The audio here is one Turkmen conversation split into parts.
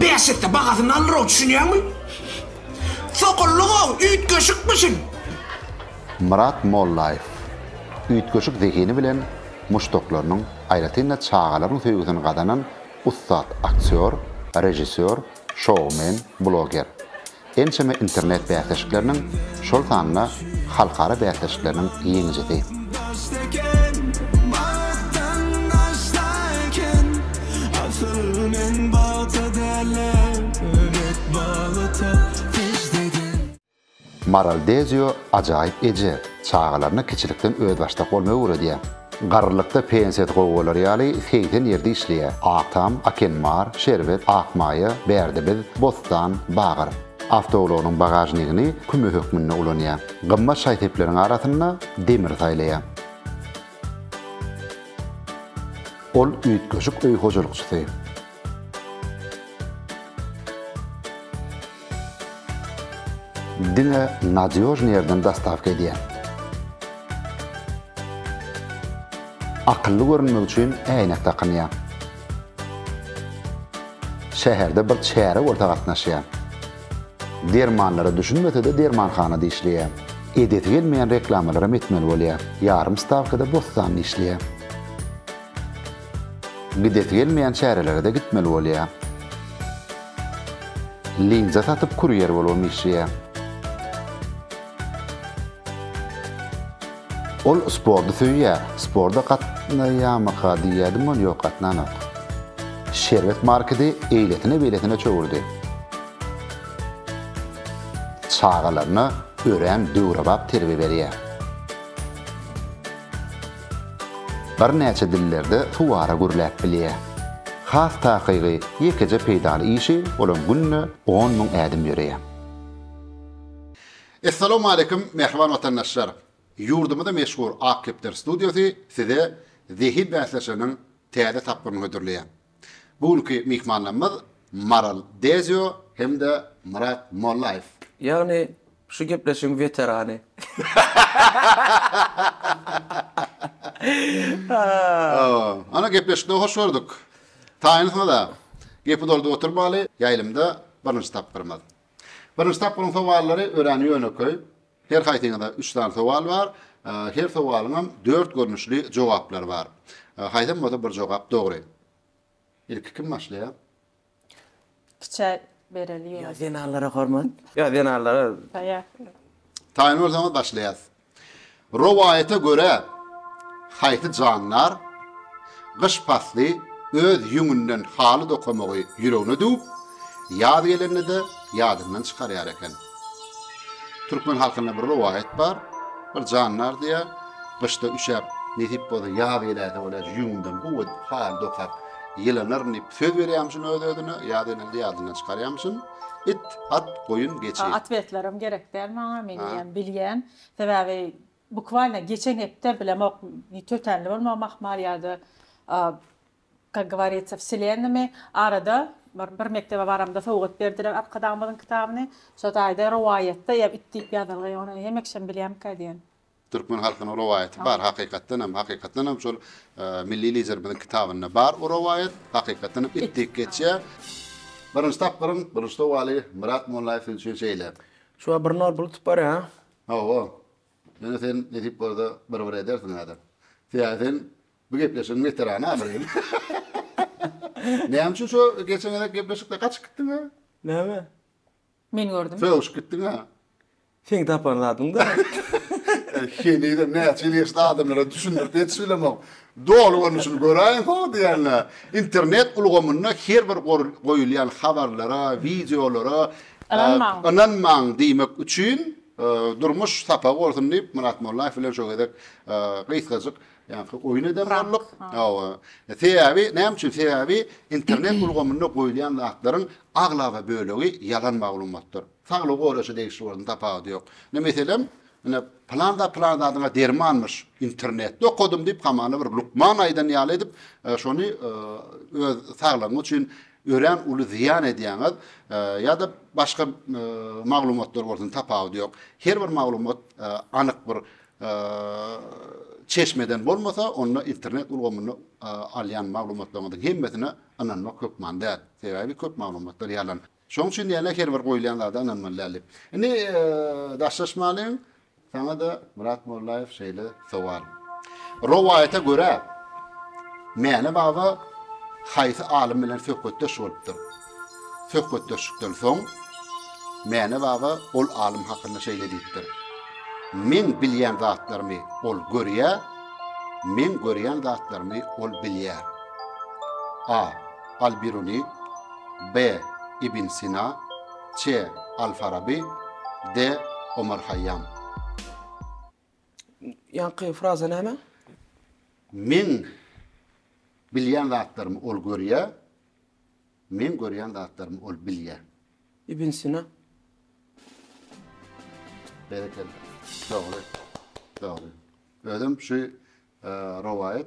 Bäş esse bahasyny alyrow, düşünýäňmi? Sokullyk-ow, üýtgeşikmişin! Myrat Mollaýew üýtgeşik zehini bilen muşdaklarynyň, aýratyn-da çagalaryň söýgüsini gazanan ussat aktýor, režissýor, şoumen, bloger. Ençeme internet bäsleşikleriniň, şol sanda halkara bäsleşikleriniň ýeňijisi. Maral Dezio ajaýyp eje, çagalaryna kiçilikden özbaşdak bolmagy öwredýär. Garrylykda pensiýasy gowy bolar ýaly segsen ýerde işleýär. Agtam, Akenmar, Şerbet, Akmaýa, Bärdebiz, Bostan, Bagyr. Awtoulagynyň bagažnigini küme hökmünde ulanýar. Gymmat şaý-sepleriň arasynda demiri saýlaýar. Ol üýtgeşik öý hojalykçysy. Diňe nadýožny ýerden dostawka edýän. Akylly görünmek üçin äýnek dakynýan. Şäherde bir çäre bolsa gatnaşýan. Dermanlara düşünmese-de dermanhana dişleýän. Edesi gelmeýän reklamalaram etmeli bolýan. Ýarym stawkada bossanly işleýän. Gidesi gelmeýän çärelere-de gitmeli bolýar. Linza satyp kurýer bolubam işleýär. Ol sporty söýýär. Sporta gatnaýamyka diýýärdim, ol ýok, gatnanok. Şerbet marketi eýlesine-beýlesine çöwürdi. Çagalaryna örän döwrebap terbiýe berýär. Birnäçe dillerde suwara gürläp bilýär. Has takygy, ýekeje peýdaly işi olam günde on müň ädim ýöreýär. Essalawmaleýkum mähriban watandaşlar! Ýurdumyzda meşhur Ak kepder studiýasy size zehin bäsleşiginiň täze tapgyryny hödürleýär. Bu günki myhmanlarymyz Maral Dezio hem-de Myrat Mollaýew. Ýagny, şu gepleşigiň weterany. Ana, gepleşikde hoş gördük. Taýynsyňyz-a. Gepi doldup oturmaly, ýaýlymda birinji tapgyrymyz. Birinji tapgyryň sowallary örän ýönekeý. Her haýsyňyza üç sany sowal bar. Her sowalyňam dört görnüşli jogaplary bar. Haýsam bolsa bir jogap dogry. Ilki kim başlaýar? Kiçä bereli ýöne. Ýa zenanlara hormat. Ýa zenanlara. Taýak. Taýyn bolsaňyz başlaýas. Rowaýata görä haýsy jandar. Gyş pasly öz ýüňünden haly dokamagy ýüregine düwüp, ýaz gelende-de ýadyndan çykarýar eken. Türkmen halkynda bir rowaýat bar, Bir jandar diýýär, Gyşda üşäp, nesip bolsa ýaz geläýse bolýar, ýüňümden gowy edip haly dokap ýylanaryn diýip söz berýärmişin öz-özüne, ýaz gelende ýadyndan çykarýarmyşyn. It, at, goýun, geçi. Atwetlerim gerek däl maňa, men eýýäm bilýän. Sebäbi Bukvalno geçen hepde bilemok ne tötänli bolmagym ahmal ýada kak gowarýtsa wselennymy arada bir bir mekdebe baramda sowgat berdiler arkadagymyzyň kitabyny şo taýda rowaýatda ýa it diýip ýazylgy ony hemekşem bilýämika diýen. Türkmen halkynyň rowaýaty bar hakykatdanam hakykatdanam şol milli liderimiziň kitabynda bar o rowaýat hakykatdan hem it diýip geçýär. Birinji tapgyryň birinji sowaly Myrat Mollaýew siz üçin şeýle. Şu bir nol bulup barýar. Hawa, ýöne sen nesip bolsa bir-bir edersiň häzir. Sebäbi sen bu gepleşigiň weterany ahyryn. Näme üçin şo geçen gezek gepleşikde gaçyp gitdiň-ä? Näme? Men gördüm. Sögüşip gitdiň-ä? Seň tapan zadyň-da. Henizem näçe ýyl geçdi adamlara düşündirip ýetişibilemok. Doly görnüşini göräýiň hoo diýende, internet ulgamynda her bir goýulýan habarlara, wideolara ynanmaň diýmek üçin durmuş sapagy bolsun diýip Myrat Mollaýew bilen şu gezek gysgajyk ýaňky oýun eden bolduk. Hawa. Sebäbi näme üçin? Sebäbi internet ulgamynda goýulýan zatlaryň aglaba bölegi ýalan maglumatdyr. Saglygy goraýşa degişli bolsun, tapawudy ýok. Ine, meselem, ine, pylan zat pylan zadyňa dermanmyş, internetde okadym diýip, hamana bir lukman aýdan ýaly edip, şony öz saglygyňyz üçin örän uly zyýan edýäňiz. Ýa-da başga maglumatlar bolsun, tapawudy ýok. Her bir maglumat anyk bir çeşmeden bolmasa, onda internet ulgamynda alýan maglumatlaryňyzyň hemmesine ynanmak hökman däl. Sebäbi köp maglumatlar ýalan. Şoň üçin diýýän-ä her bir goýulýan zada ynanmaly däl diýip. Indi daşlaşmalyň. Saňa-da Myrat Mollaýew şeýle sowal. Rowaýata görä, Mäne baba haýsy alym bilen söhbetdeş bolupdyr? Söhbetdeşlikden soň Mäne baba ol alym hakynda şeýle diýipdir, Meň bilýän zatlarymy ol görýär, meň görýän zatlarymy ol bilýär. A. Al-Biruni, B. Ibn Sina, Ç. Al-Farabi, D. Omar Haýýam. Ýaňky fraza näme? Meň bilýän zatlarymy ol görýär, meň görýän zatlarymy ol bilýär. Ibn Sina. Berekella. Dogry. Dogry. Özüm şu rowaýat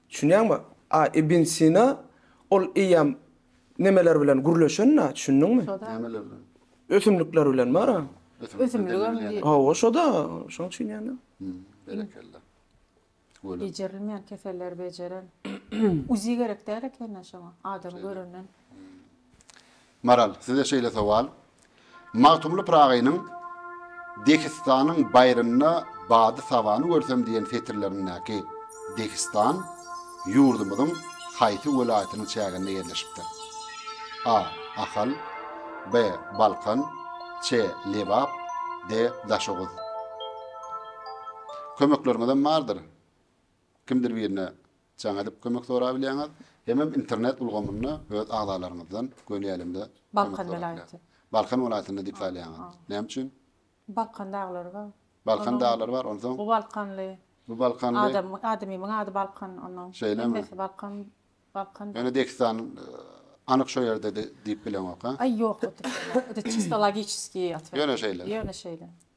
Düşünýäňmi? A Ibn Sina ol eýýäm nemeler bilen gürleşen-dä, düşündiňmi? Şo-da. Nämeler bilen? Ösümlikler bilen bar-a. Ösümlikler demir Ösümligem bilýän. Hawa, şo-da. Şoň üçin ýa-da. Hümm, berekella. Welin. Bejerilmeýän keselleri bejeren. Uzi gerek däl eken-dä şoňa, adamy görenden. Maral, size şeýle sowal. Magtymguly Pyragynyň Dehistanyň baýrynda bady sabany görsem diýen setirlerindäki Dehistan ýurdumyzyň haýsy welaýatynyň çäginde ýerleşipdir? A. Ahal B. Balkan C. Lebap D. Daşoguz Kömekleriňizem bardyr. Kimdir birine Jaň edip kömek sorap bilýäňiz. Hemem internet ulgamynda öz agzalaryňyzdan göni älemde kömek sorap bilýäňiz. Balkan welaýatynda diýip saýlaýaňyz. Näme üçin? Balkan daglary bar. Balkan daglary bar. Onsoň. Bu balkanly. Bu balkanly. Adam, adamymyň ady Balkan onuň. Şeýlemi? Hemmesi Balkan, Balkan. Ýöne Degistan anyk şo ýerde diýip bileňok-a? Aý ýok, ýöne şeýle. Ýöne şeýle.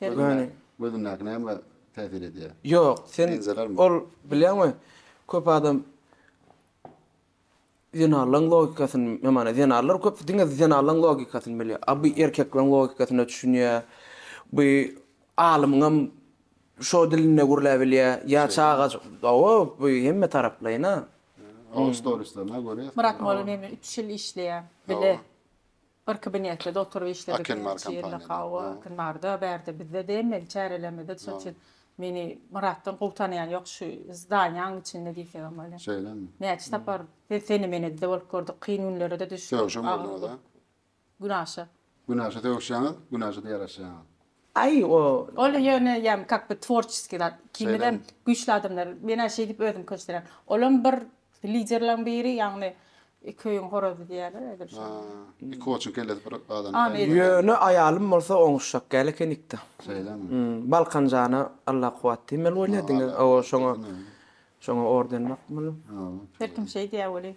Ýöne gözündäki näme täsir edýär? Ýok, sen ol bilýäňmi, köp adam zenanlaň logikasyny, men maňa zenanlar köp diňe zenanlaň logikasyny bilýär. A bu erkekleň logikasyna düşünýär. Bu alymyňam şo dilinde gürläp bilýär. Ýa çagajyk, hawa, bu hemme taraplaýyn-a. Oň storislerine görýäs. Myrat Molla meniň bilen üç ýyl işleýär. Bile. Bir kabinetde-de oturyp işledik. Akenmar kompaniýada. Hawa, Akenmarda, bärde bizde degmeli çärelerimizde. Şonuň üçin meni Myratdan gowy tanaýan ýok şu zdaniýanyň içinde diýsegem bolýar. Şeýlemi? Näçe sapar sene-menede-de bolup gördük, kyn günlere-de düşdük. Sögüşen bolduňyz-a? Günaşa. Günaşa sögüşýäňiz, günaşa-da ýaraşýaňyz. Aý o. Ol ýöne ýagny kak bir tworçeskiý zat. Ikimizem güýçli adamlar. Men-ä şeýdip özümi köşedirýän. Olam bir liderleriň biri ýagny iki öýüň horazy diýýärler ýa-da bir şeýle. Iki oçuň kellesi bir gazana bäs. Ýöne aýalym bolsa oňuşjakgäl ekenikda. Şeýlemi? Balkan jana Alla kuwwat diýmeli bolýa diňe. Hawa şoňa şoňa orden bakmaly. Her kim şeýdýä weli.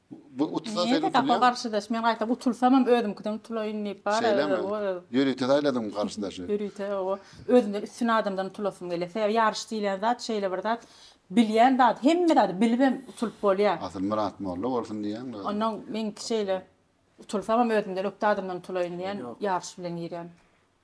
Bu utulsa sen utulýaň. Näme garşydaş? Men gaýtam utulsamam özümkiden utulaýyn diýip bar. Şeýlemi? Ýörite saýladyňmy garşydaşy? Ýörite oba. Özümden üstün adamdan utulasym gelýär. Sebäbi ýaryş diýlen zat şeýle bir zat. Bilýän zady, hemme zady bilibem utulyp bolýar. Asyl Myrat molla bolsun diýýäňmi özüň? Onnoň meňki şeýle. Utulsamam özümden ökde adamdan utulaýyn diýen ýaryş bilen girýän.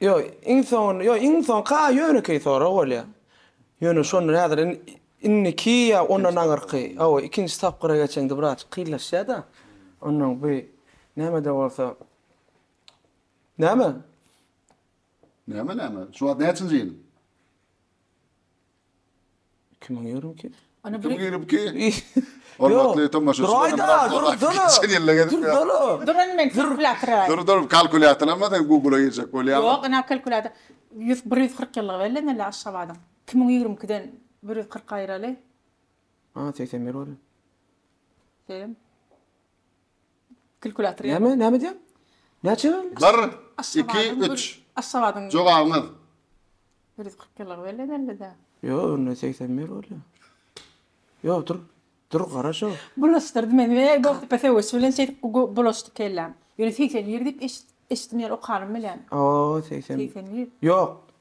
Ýok, iň soňunda, ýok, iň soňky a ýönekeý sorag bolýar. Ýöne şondan häzir in, indiki ýa ondan aňyrky, hawa, ikinji tapgyra geçeňde birazjyk kynlaşýar-da. Onnoň bi näme-de bolsa Näme? Näme, näme? Şu wagt näçinji ýyl? Kimiň ýörümki? Ana bir ýörümki. Hormatly tomaşaçylar. Durun men kalkulýator aýdýan. Dur dur kalkulýator alma sen google girjek bolýaň. Ýok ina kalkulýator. Ýüz bir ýüz kyrk ýyllygy belleneli Aşgabadyň. Iki müň ýigrimi ikiden bir ýüz kyrk aýyraly. A segsen bir bolýar. Seýem. Klkulator ýa. Näme, näme diýýäň? Näçe boldy? Bir, iki, üç. Aşgabadyň. Jogabyňyz. Bir ýüz kyrk ýyllygy belli edildi-dä. Ýok, öňden segsen bir bolýa. Ýok, dur. Dur, gara şo. Bulaşdyrdy meni. Eý, Goltepe söweşi bilen şeýdip bulaşdy kelläm. Ýöne segsen bir diýip eşitdim, ýeri okanym bilen. Aw, segsen. Segsen bir. Ýok,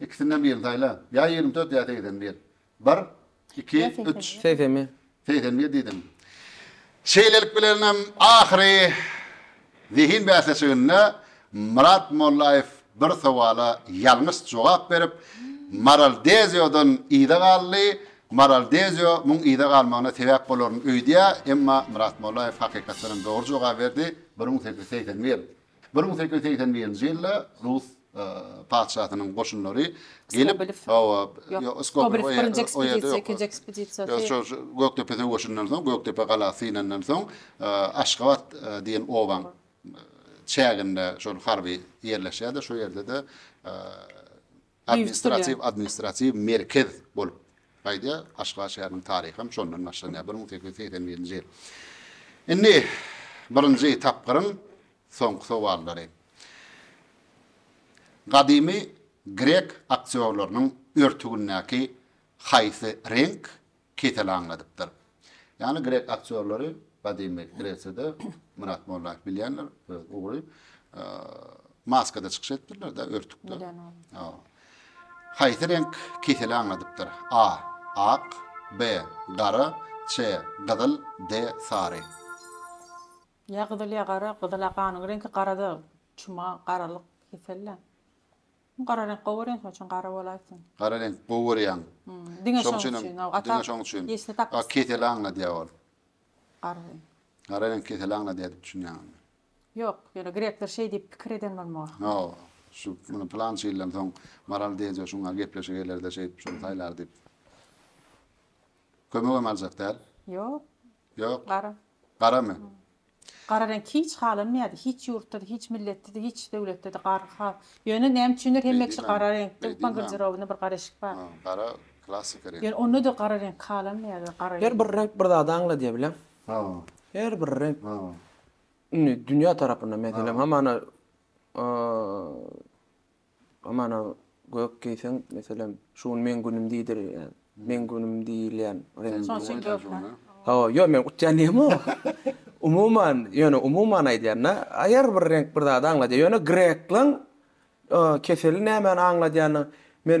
Ikisinden birini saýla. Ýa ýigrimi dört, ýa segsen bir. Bir, iki, üç. Segsen bir. Segsen bir diýdim. Şeýlelik bilen hem ahyry zehin bäsleşiginde Myrat Mollaýew bir sowala ýalňyş jogap berip, Maral Deziodan yza galdy. Maral Dezio muň yza galmagyna sebäp bolaryn öýdýär, emma Myrat Mollaýew hakykatdan hem dogry jogaby berdi, bir müň sekiz ýüz segsen bir. Bir müň sekiz ýüz segsen birinji ýylda rus patyşasynyň goşunlary gelip, hawa, Skobelew birinji ekspedisiýa, ikinji ekspedisiýa. Şo Gökdepe söweşinden soň, Gökdepe galasy synandan soň, Aşgabat diýen obaň çäginde şol harby ýerleşýär-de, şo ýerde-de Administratiw administratiw merkez bolup gaýdýar. Kaşgar şäheriniň taryhy hem şondan başlanýar, bir müň sekiz ýüz segsen birinji ýyl. Indi birinji tapgyryň soňky sowallary. Gadymy grek aktýorlarynyň örtügindäki haýsy reňk kesel aňladypdyr. Ýagny grek aktýorlary gadymy Gresiýada Myrat Mollaýew bilýänler öz ugry maskada çykyş edipdirler-de, örtükde. Haýsy reňk keseli aňladypdyr? A. Ak B. Gara C. Gyzyl D. Sary. Ýa gyzyl ýa gara, gyzyl-a ganyň reňki, gara-da çuma, garalyk kesel-dä. Gara reňk gowy reňk şoň üçin gara bolaýsyn. Gara reňk gowy görýäň. Diňe şoň üçin hem diňe şoň üçin. A keseli aňladýa ol. Gara reňk. Gara reňk keseli aňladýa diýip düşünýäň indi. Ýok, ýöne grekler şeý diýip pikir eden bolmaga. Ýo, şu muny pylança ýyldan soň Maral deýje şuňa gepleşik gelerde şeýdip şuny saýlar diýip. Kömegem aljak däl. Ýok. Ýok. Gara. Garamy? Gara reňk hiç halanmaýardy. Hiç ýurtda-da, hiç milletde-de, hiç döwletde-de gara ha, ýöne näme üçindir hemme kişi gara reňkde, lukman garderobynda bir gara eşik bar. Gara klassyka reňk. Ýöne onda-da gara reňk halanmaýardy, gara reňk. Her bir reňk bir zady aňladýar bileň. Her bir reňk. Indi dünýä tarapyndan meselem hamana Mana, gök geýseň, meselem, şu gün meň günüm diýdirýän, meň günüm diýilýän reňk. Şonuň üçin gökmi? Hawa, ýok, men utýan diýemok. Umuman, ýöne umuman aýdýan-da, aýar bir reňk bir zady aňladýar. Ýöne grekleň keseli nämäni aňladýanyny men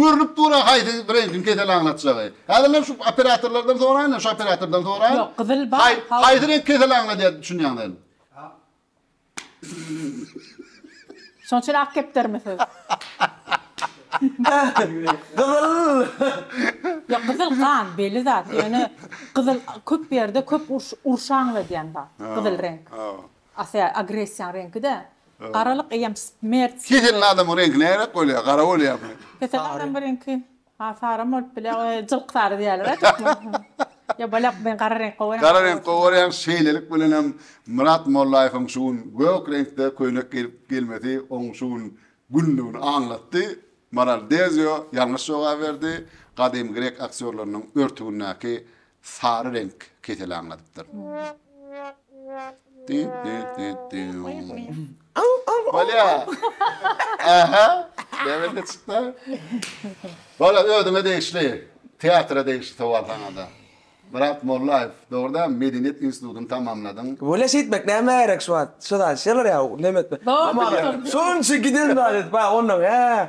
Görnüp dur-a haýsy brendiň kesel aňlatjagy. Häzirem şu operatorlardan soraýyn-a, şu operatordan soraýyn. Ýok, gyzyl bar, haw. Haý, haýsy reňk kesel aňladýar diýip düşünýäň sen? Şonuň üçin ak kepdermi siz? Gyzyl! Ýok, gyzyl gan, belli zat. Ýöne gyzyl köp ýerde köp uruş, urşy aňladýan zat, gyzyl reňk. Ata, agressiýaň reňki-dä. Garalyk eýýäm smert simwoli. Keselli adamyň reňki näräk bolýar, gara bolýarmy? Keselli adamyň reňki ha saram bolup bilýär, ony jylk sary diýýärler-ä türkmen. Ýok, bolýar, men gara reňk gowy görýän. Gara reňk gowy görýäň, şeýlelik bilenem Myrat Mollaýewiň şu gün gök reňkde köýnek geýip gelmesi oň şu gün günlügini aňlatdy. Maral Dezio ýalňyş jogaby berdi. Gadymy grek aktýorlarynyň örtügindäki Sary reňk keseli aňladypdyr. Bolýa. Aha. Näme çykdy? Bola özüňe degişli, teatra degişli sowal saňada. Myrat Mollaýew, dogry däl, Medeniýet institutyny tamamladyň. Bolýa şeýtmek nämä gerek şu wagt? Şu zat şeýle bolýa, neme etmek. Şunça giden zat edip, onnoň hä.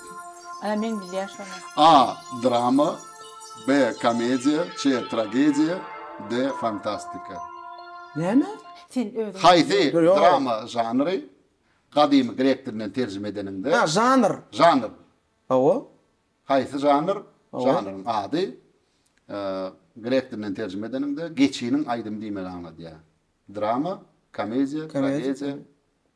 Ana men bilýän şony. A. Drama B. Komediýa C. Tragediýa D. Fantastika. Näme? Sen özüň. Haýsy drama žanry gadymy grek dilinden terjime edeniňde. A. Žanr. Žanr. Hawa. Haýsy žanr? Žanryň ady grek dilinden terjime edeniňde geçiniň aýdymy diýmegi aňladýar. Drama, komediýa, tragediýa,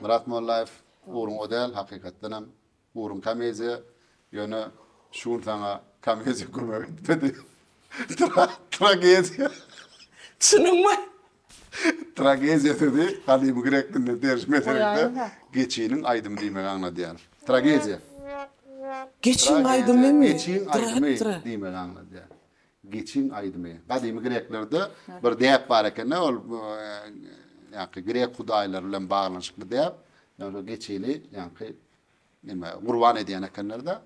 Myrat Mollaýew ugruň o däl hakykatdanam ugruň komediýa ýöne şu gün saňa komediýa kömek etmedi tragediýa Çynyňmy? Tragediýa sözi gadymy grek dilinden terjime ederekde geçiniň aýdymy diýmegi aňladýar. Tragediýa. Geçiň aýdymymy? Geçiň aýdymy diýmegi aňladýar. Geçiň aýdymy. Gadymy greklerde bir däp bar eken-de, ol ýaňky grek hudaýlary bilen baglanyşykly däp. Ýa-da geçini ýaňky nime, gurban edýän ekenler-de,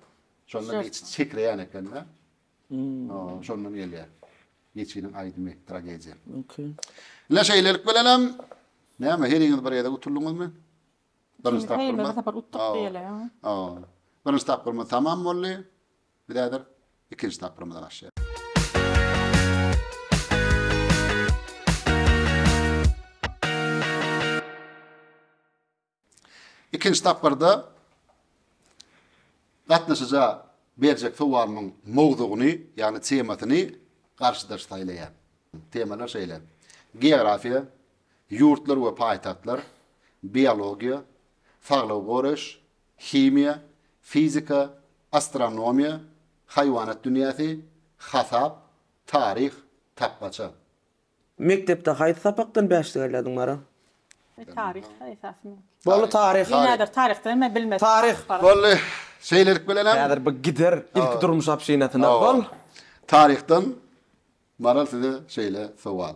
şonda geçi çekreýän eken-de. Şondan gelýär. Geçiniň aýdymy, tragediýa. Mümkin. Ine şeýlelik bilenem, näme, heriňiz bir gezek utulyňyzmy? Birinji tapgyrymyz. Birinji tapgyr utduk diýeli. Birinji tapgyrymyz tamam boldy. Biz häzir ikinji tapgyrymyza başlaýarys. Ikinji tapgyrda gatnaşyja berjek sowalymyň mowzugyny, ýagny temasyny garşydaş saýlaýar. Temalar şeýle, geografiýa, ýurtlar we paýtagtlar, biologiýa, saglygy goraýyş, himiýa, fizika, astronomiýa, haýwanat dünýäsi, hasap, taryh, tapmaça. Mekdepde haýsy sapakdan bäş degellediň Mara? E taryh esasym. Bolly taryh. Ýene bir taryhdan men bilmedim. Taryh. Bolly şeýlelik bilenem. Häzir bu gider ilki durmuş obşinasyna. Bol. Taryhdan Maral size şeýle sowal.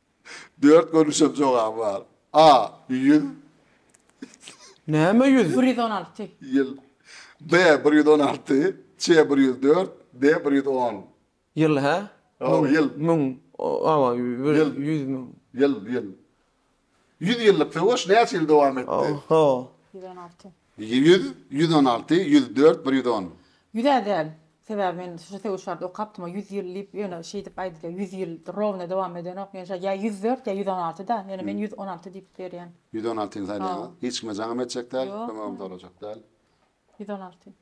Dört görnüşem jogaby bar. A. Ýüz. Näme ýüz? Bir ýüz on alty. Ýyl. B. Bir ýüz on alty. C. Bir ýüz dört. D. Bir ýüz on. Ýyl, hä? Hawa, ýyl. Müň. Hawa, bir ýüz müň. Ýyl, ýyl. Ýüz ýyllyk söweş näçe ýyl dowam etdi? Hawa. Ýüz on alty. Ýüz, ýüz on alty, ýüz dört, bir ýüz on. Ýüz-ä däl. Sebäbi men şu söweş barada okapdym-a, ýüz ýyl diýip, ýöne şeýdip aýdylýar, ýüz ýyl rowno dowam edenok. Ýöne şa ýa ýüz dört, ýa ýüz on alty-da. Ýöne men ýüz on alty diýip berýän. Ýüz on altyny saýlaýaňyz. Hiç kime jaňam etjek däl, kömegem sorajak däl. Ýüz on alty.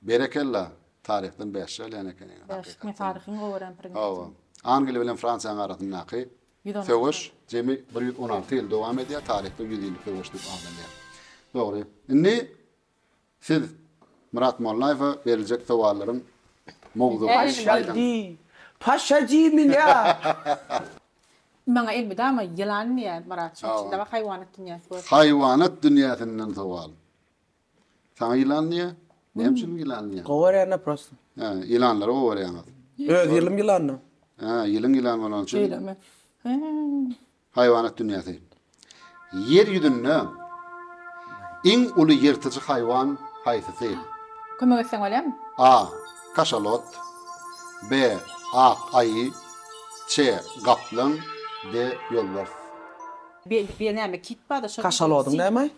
Berekella, taryhdan bäş çalýan ekeniňiz hakykatdan. Bäş, taryhyň gowaran predmetim. Hawa. Angliýa bilen Fransiýanyň arasyndaky söweş jemi bir ýüz on alty ýyl dowam edýär, taryhda ýüz ýyllyk söweş diýip adalýar. Dogry. Indi siz Myrat Mollaýewe beriljek sowallaryň mowzugyny aýdyň. Paşa diýmiň ýa? Maňa elmydama ýylan diýýär Myrat, şonuň üçin dawa haýwanat dünýäsi görsün. Haýwanat dünýäsinden sowal. Saňa ýylan diýýä? Näme üçin ýylan diýýä? Gowy görýän-de prosta. Hä, ýylanlary gowy görýäňiz. Öz ýylym ýylandyr. Hä, ýylyň ýylan bolany üçin. Şeýlemi? Hä. Haýwanat dünýäsi. Ýer ýüzünde iň uly ýyrtyjy haýwan haýsysy? Kömek etseň bolýarmy? A. Kaşalot B. Ak aýy C. Gaplaň D. Ýolbars. Belki bir näme kit bardyr, şol. Kaşalodyň näme?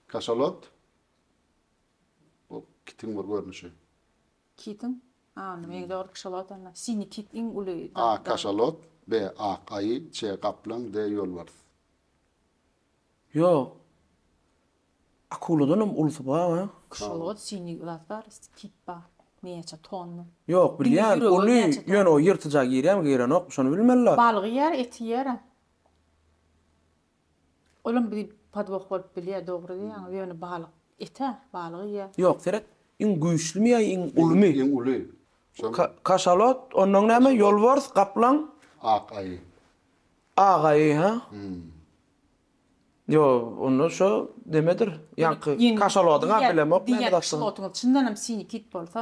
Kaşalot, bu kitiň bir görnüşi. Kitiň? A, onda meň dogry kşalot onda. Sini kit iň uly. A, kaşalot, B, ak aýy, C, gaplaň, D, ýolbars. Ýok. Akuladanam ulusy bar a. Kşalot, sini zat bar, kit bar. Näçe tonna. Ýok, bilýän, uly, ýöne o ýyrtyja girýämi, girenokmy, şony bilmeli. Balygy ýer, eti ýer a. Olam bir podwoh bolup bilýär dogry diýýäňiz ýöne balyk ete balygy ýe. Ýok seret iň güýçlimi ýa iň ulymy. Iň uly. Kaşalot ondan näme ýolbars gaplaň. Ak aýy. Ak aýy ha. Ýo onda şo demedir ýaňky kaşalodyňa bilemok näme zatdygyny. Diýýän kaşalotyňyz çyndanam sinikit bolsa.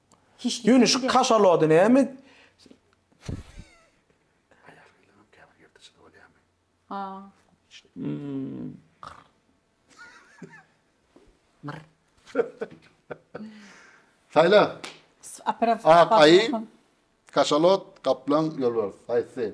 Ýöne şu kaşalody näme? Aýagyňam käbir ýyrtyjy bolýamy? Saýla. Ak aýy, kaşalot, gaplaň, ýolbars. Haýsy?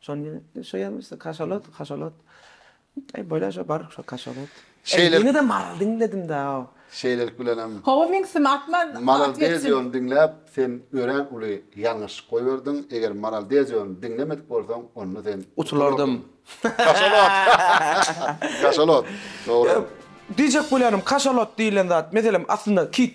Şonda şo ýazmyş, kaşalot, kaşalot. Aý, bolýar şo, bar şo kaşalot. Şeýle. Ýene-de maral diňledim-dä-ow. Şeýlelik bilenem. Hawa, meň sim atma. Maral Deziony diňläp, sen örän uly ýalňyşlyk goýberdiň. Eger Maral Deziony diňlemedik bolsaň, onda sen. Utulardym. Kaşalot. Kaşalot. Dogry. Diýjek bolýanym, kaşalot diýlen zat, meselem, aslynda kit.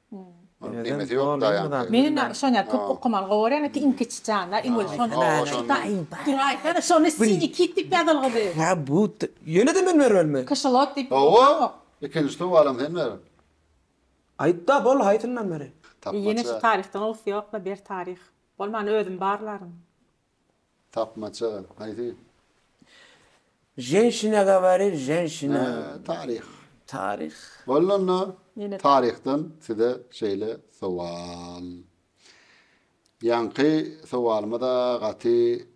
Kymeti yok dayanki. Meni na şonya köp okamaly gowaryan eti iň kiçi janda iň özi şony duraýsana şony sini kit dip ýazylgydy. Hä bu ýöne-de men bermelimi? Kişilot dip Hawa ikinji tuwalam sen ber. Aýtda bol haýsyndan bereý? Ýene şu taryhdan owus ýokla ber taryh. Bolmany özüm barlaryn. Tapmaça, haýsy? Ženşina gawarir, ženşina. Hä, taryh. Taryh. Boldy onda. Taryhdan size şeýle sowal. Ýaňky sowalyma-da gaty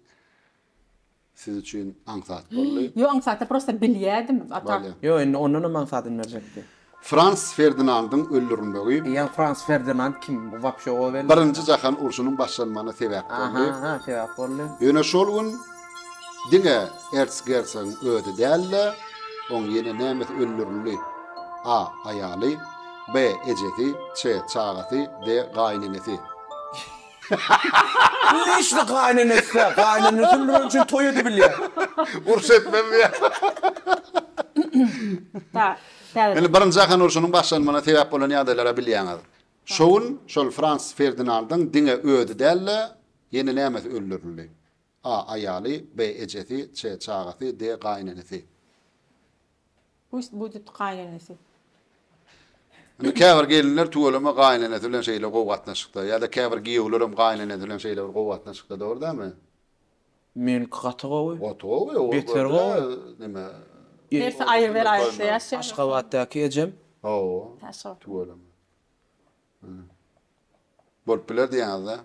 siz üçin aňsat boldy. Ýok, aňsat däl, prosta bilýädim. Bolýa. Ýok, indi ondanam aňsadyny berjekdi. Frans Ferdinandyň öldürilmegi. Ýa Frans Ferdinand kim? Bu wapşe o belli. Birinji jahan urşunyň başlanmagyna sebäp boldy. Aha, sebäp boldy. Ýöne şol gün diňe ertsgersogyň özi däl-de, oň ýene nämesi öldürildi, a. Aýaly, b. Ejesi, ç. Çagasy, d. Gaýynenesi. Leşli gaýynenesi-dä, gaýynenesi öldüren üçin toý edibilýär. Urş etmez diýýär. Indi Birinji jahan urşunyň başlanmagyna sebäp bolan ýagdaýlara bilýäňiz. Şo gün şol Frans Ferdinandyň diňe özi däl-de, ýene nämesi öldürildi? A aýaly, B ejesi, C çagasy, D gaýynenesi. Pust budit gaýynenesi. Indi käbir gelinler tüweleme gaýynenesi bilen şeýle gowy gatnaşykda, ýa-da käbir giýewler hem gaýynenesi bilen şeýle bir gowy gatnaşykda, dogry dälmi? Meniňki gaty gowy. Gaty gowy o Beter gowy. neme. Hersi aýry bir aýdýa ýaşy. Aşgabatdaky ejem. Hawa. Aşgabat. Tüweleme. Bolup biler diýýäňizda.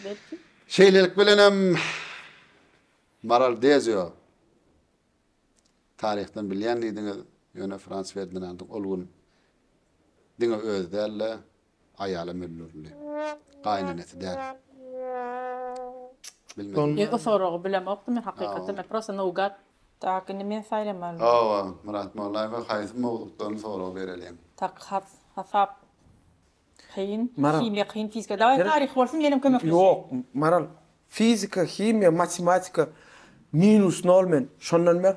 Belki. Şeýlelik bilenem Maral Dezio taryhdan bilýän diýdiňiz, ýöne Frans Ferdinandyň ol gün diňe özi däl-de, Aýala möllerli. Gaýynenesi däl. Bilmedim. Men o soragy bilemokdym men hakykatdan men prosta nougat. Tak indi men saýlamalydym. Hawa, Myrat Mollaýewa haýsy mowzukdan sorag bereliň? Tak has hasap kyn, himiýa kyn, fizika dawaý taryh bolsun menem kömekleşeýin. Ýok, Maral, fizika, himiýa, matematika minus nol men şondan ber.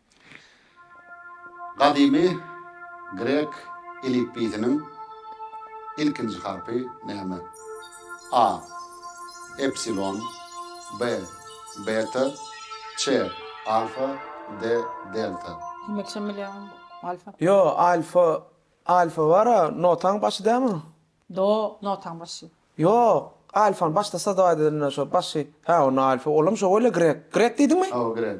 Gadymy grek elipbiýsiniň ilkinji harpy näme? A. Epsilon B. Beta C. Alfa D. Delta. Himekçem bilýän alfa. Ýo alfa alfa bara notaň başy dämi? Do notaň başy. Ýok, alfany başda sazawat edende şo başy, hä onda alfa, olam şo welin grek. Grek diýdiňmi? Hawa grek.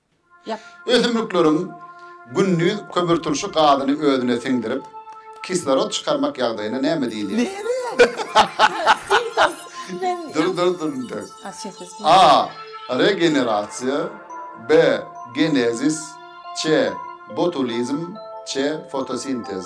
Ösümlikleriň gündiz kömürturşy gazyny özüne siňdirip, kislorod çykarmak ýagdaýyna näme diýilýär? A. Regenerasiýa B. Genezis C. Botulizm C. Fotosintez.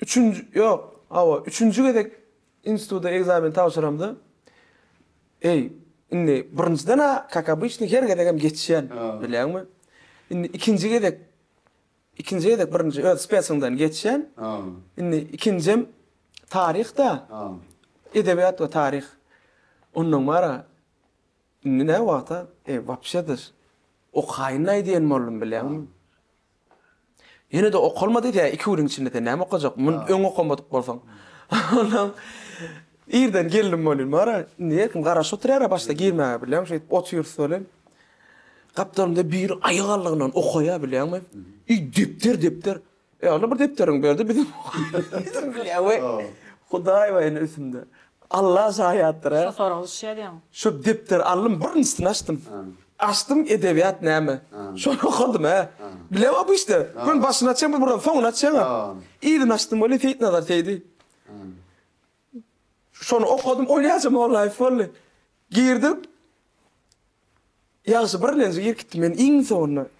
Üçünji, ýok, hawa, üçünji gezek instituta ekzamen tabşyramda, eý, indi birinjiden-ä, kak obyçnyý, her gezegem geçýän, bilýäňmi? Indi ikinji gezek, ikinji gezek birinji öz spesiňden geçýän, indi ikinjem taryh-da, edebiýat we taryh. Onnoň bar-a, indi näwagt-a, eý, wapşe-de, okaýyn-laý diýen boldum, bilýäňmi? Ýene-de okalma diýse, iki günüň içinde sen näme okajak, muny öň okamadyk bolsaň. Onsoň irden geldim welin, bara, indi erkim garaşyp oturýar-a başda girmäge, bilýäňmi, şeýdip otyrys welin, gapdalymda biri aýagalygyndan okaýar, bilýäňmi, i depder, depder, e, Alla bir depderiňi ber-de, bizem okaýaly, bilýäňmi, Hudaý welin üstümde, Alla şaýatdyr-a. Şo sorag düşýär diýeňmi? Şo depderi aldym, birinjisini açdym. Açdym edebiýat näme? Şony okadym hä. Bilem a bu işte. Gün başyny açýaň bir buran soňuny açýaň a. Yzyny açdym weli Seýitnazar Seýdi. Şony okadym Olýaja Mollaýew boldy. Girdim. Ýagşy birlenji girkitdi meni iň soňunda.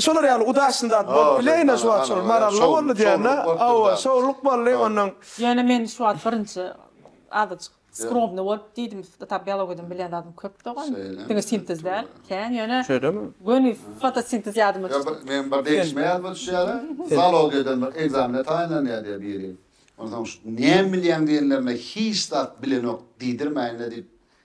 Şolar ýaly udaçny zat bolup bileýine şu wagt şol maralda boldy diýende hawa şowluk boldy ondan. Ýöne men şu wagt birinji azajyk skromny bolup diýdim tab biologiydan bilýän zadym köp dogan diňe sintez däl kän ýöne şeýdemi göni fotosintez ýadyma düşdi. Meň bir degişme ýadyma düşýär zalogiýadan bir ekzamene taýynlanýar diýýär biri onsoň şu näme bilýäň diýenlerine hiç zat bilenok diýdirmäýinle diýip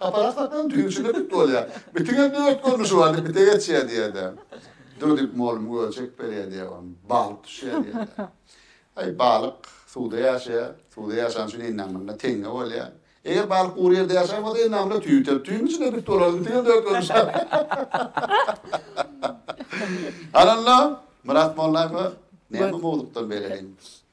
Gaparak satsaň düýşüne bit bolýa. Bitiňe dört görnüşi bar diýip bite geçýä diýede. Dur diýip molum göze çekip berýä diýä on balyk düşýä diýede. Aý balyk suwda ýaşaýa, suwda ýaşan üçin endamyna teňňe bolýa. Eger balyk gury ýerde ýaşan bolsa endamyna tüý biter. Tüýüň içinde bit bolarys bitiňe dört görnüşi bar. Ananda Myrat Mollaýewe näme mowzukdan beýle giň.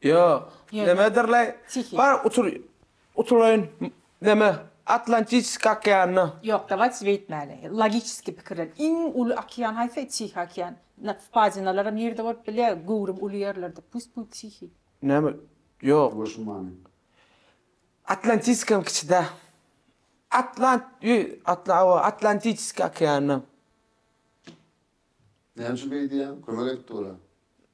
Ýok, nämedirlaý, bar utur, utulaýyn, näme, Atlantiçiskiý okeanyna. Ýok, dawayç beýtmäli, logiçiskiý pikirlen, iň uly okean haýsy, Tihiý okean, na, wpadinalaram ýerde bolup bilýä, göwrüm uly ýerlerde, pust bu Tihiý. Näme, ýok. Boş many. Atlantiskam kiçi-dä, Atlant, ýü, Atla, awa, Atlantiçiskiý okeanyna. Näme üçin beýdýäň, kömek edip dur-a.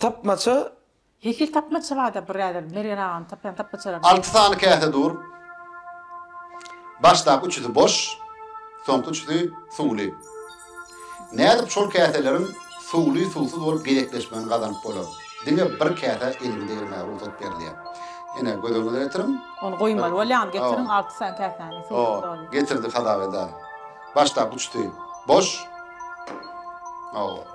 Tapmaça. Hehil tapmaça barda birader Mergen aganyň tapýan tapmaçalary Alty sany käse dur. Başdaky üçüsi boş, soňky üçüsi suwly. Nädip şol käseleriň suwly suwsuz bolup gezekleşmegini gazanyp bolar? Diňe bir käsä eliňi degirmäge rugsat berilýär. Ine göz öňüňe getiriň. Ony goýmaly bolýaňyz getiriň alty sany käsäni suwsuz dolyň. Getirdik Hazabeda. Başdaky üçüsi boş. Hawa.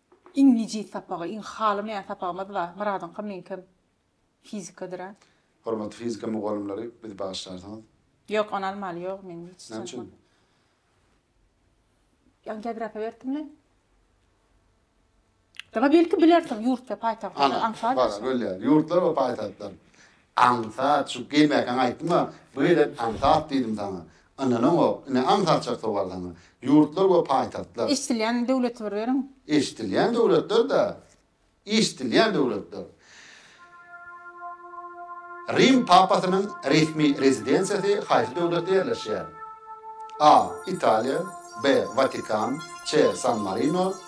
Iň nijis sapagy, iň halamaýan sapagymyz bar. Myradyňkam, meňkem fizikadyr-a. Hormatly fizika mugallymlary, bizi bagyşlarsyňyz. Ýok, ony almaly ýok, men hiç Näme üçin? tanamam. Ýa geografiýa beripdimmi? Daba belki bilersiň ýurt we paýtagtlarda Ana, aňsat bar, ýaşaýan. belli ýaly. Ýurtlar we paýtagtlar. Aňsat, şu geýmäkäňi aýtdyma, bu gezek aňsat diýdim saňa. Ynanaňok, ine aňsatjak sowal saňa. Ýurtlar we paýtagtlar. Eşdilýän döwleti bir beriň. Eşdilýän döwletler-dä. Eşdilýän döwletler. Rim papasynyň resmi rezidensiýasy haýsy döwletde ýerleşýär? A. Italiýa B. Watikan C. San-Marino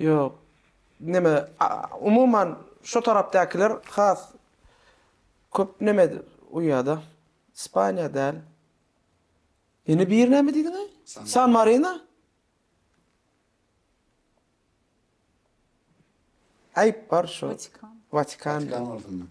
Ýok. Neme, umuman, şo tarapdakylar has köp neme uýýada. Ispaniýa däl. Ýene bir näme diýdiňaý? San Marino? Aýyp bar şo. Watikan. Watikan bolsun.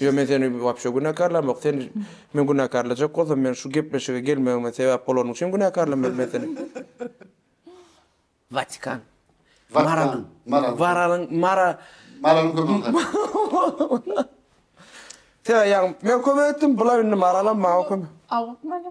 Ýok men seni wapşe günäkarlamok sen men günäkarlajak bolsam men şu gepleşige gelmegime sebäp bolanyň üçin günäkarlamaryn men seni. Watikan. Watikan. Maralyň. Waralyň. Mara. Maralyň kömegini tapyň. Sen ýaňy men kömek etdim bula indi maralam maňa kömek. Awukmaly.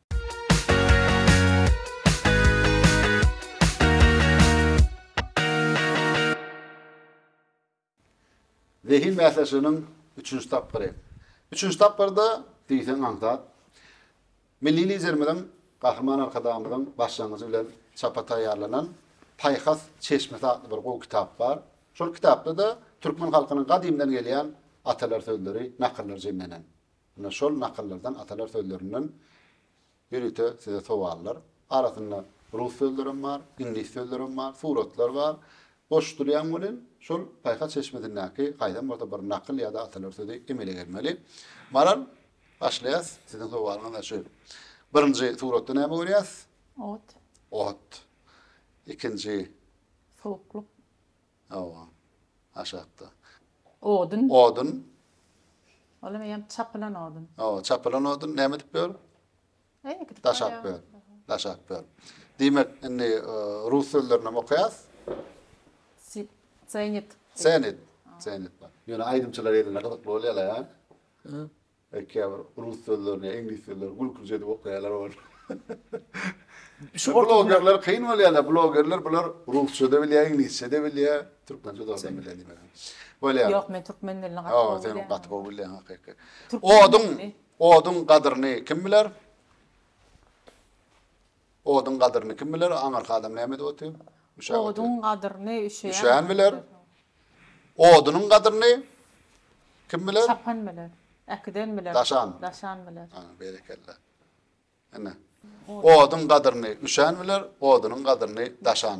Zehin bäsleşiginiň üçünji tapgyry. Üçünji tapgyrda diýseň aňsat Milli Liderimiziň, Gahryman Arkadagymyzyň başlangyjy bilen çapa taýýarlanan Paýhas çeşmesi atly bir gowy kitap bar. Şol kitapda-da türkmen halkynyň gadymdan gelýän atalar sözleri, nakyllar jemlenen. Ine şol nakyllardan atalar sözlerinden ýörite size sowallar. Arasynda rus sözlerem bar, iňlis sözlerem bar, suratlar bar. Boş durýan welin şol paýhas çeşmesindäki haýsam bolsa bir nakyl ýa-da atalar sözi emele gelmeli. Maral, başlaýas. Siziň sowalyňyz-da şu. Birinji suratda näme görýäs? Ot. Ot. Ikinji. Suwuklyk. Hawa. Aşakda. Odun. Odun. Olam eýýäm çapylan odun. Hawa, çapylan odun näme edip biler? Eý, gidip Daşap barýar. biler. Daşap biler. Diýmek, indi e, rus sözlerini hem okaýas. Si- Zenit. Zenit. Zenit bar. Ýöne aýdymçylar elinde gyzykly bolýarlar, ha? Eý käbir rus sözlerini ýa iňlis sözlerini gülkünç edip okaýalar ol. Blogerler kyn bolýarlar blogerler bular rusçada bilýär iňlisçede bilýär türkmençe zordan bilýär diýmeli. Bolýar. Ýok men türkmen dilini gaty gowy bilýän. Ýok sen gaty gowy bilýän hakyky. Oduň oduň gadyryny kim biler? Oduň gadyryny kim biler, aňyrky adam näme edip otyr? Üşäp otyr. Oduň gadyryny üşeýän. Üşeýän biler. Odunyň gadyryny kim biler? Çapan biler. Äkiden biler. Daşan. Daşan biler. Ana, berekella. Ine. Oduň gadyryny üşän biler, odunyň gadyryny daşan.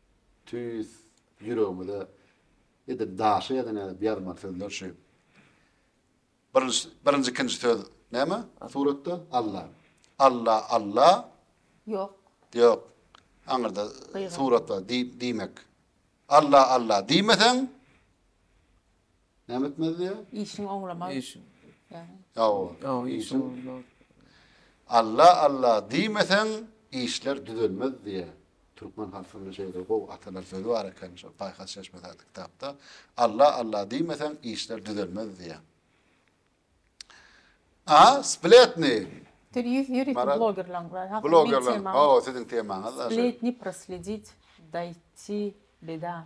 Tüýs ýüregimize edil daşa ýazyň edip ýazmaly sözler şu. Birinji birinji ikinji söz näme suratda? Alla. Alla Alla. Ýok. Ýok. Aňyrda surat bar diý diýmek. Alla Alla diýmeseň Näme etmez diýýär? Işiň oňlamaz. Işiň. Ýa-o. Ýa-o, işiň oňlamaz. Alla, Alla diýmeseň, işler düzelmez diýýär. Türkmen halkynda şeýle gowy atalar sözi bar eken, şol Paýhas çeşmesi atly kitapda. Alla, Alla diýmeseň, işler düzelmez diýýär. A, spletni. Sen ýüz ýörite blogerlaň bar. Hakda Blogerlaň. Hawa, siziň temaňyz. Spletni prosledić, daýti beda.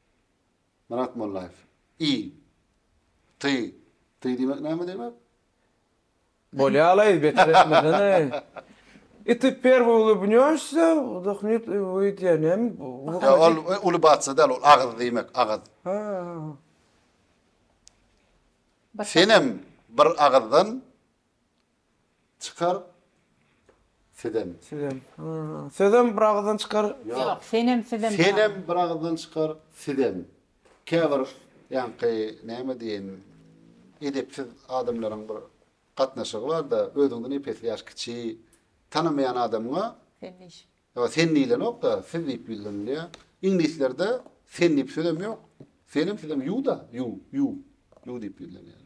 Myrat Mollaýew. I. Ty. Ty diýmek näme diýmek? Bolýalaý, beter etmesene. I ty perwy ulybnýoşsa, wdahnyt i wyýt ýa näm, wyhyýt. Ýa ol ulybasda däl, ol agyz diýmek, agyz. Hä-hä. Senem bir agyzdan Çykar sizem. Sizem. Sizem bir agyzdan çykar. Ýok, senem sizem. Senem bir agyzdan çykar, sizem. Käbir ýaňky näme diýen edepsiz adamlaryň bir gatnaşygy bar-da, özüňden epesli ýaş kiçi tanamaýan adamyňa Ýa sen diýlenok-da, siz diýip ýüzlenilýär. Iňlislerde sen diýip sözem ýok. Senem, sizem ýu-da, ýu, ýu, ýu diýip ýüzlenýär.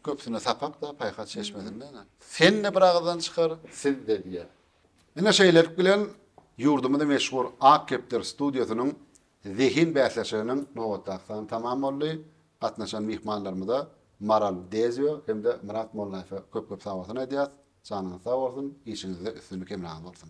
Köpüsine sapak-da, paýhas çeşmesinde ene. Sen-de bir agyzdan çykar, siz-de diýýär. Ine şeýlelik bilen ýurdumyzyň meşhur Ak kepder studiýasynyň zehin bäsleşiginiň nobatdaky sany tamam boldy. Gatnaşan myhmanlarymyza Maral Dezio hem-de Myrat Mollaýewe köp-köp sag bolsun aýdýarys. Janyňyz sag bolsun, işiňizde üstünlik hemraňyz bolsun!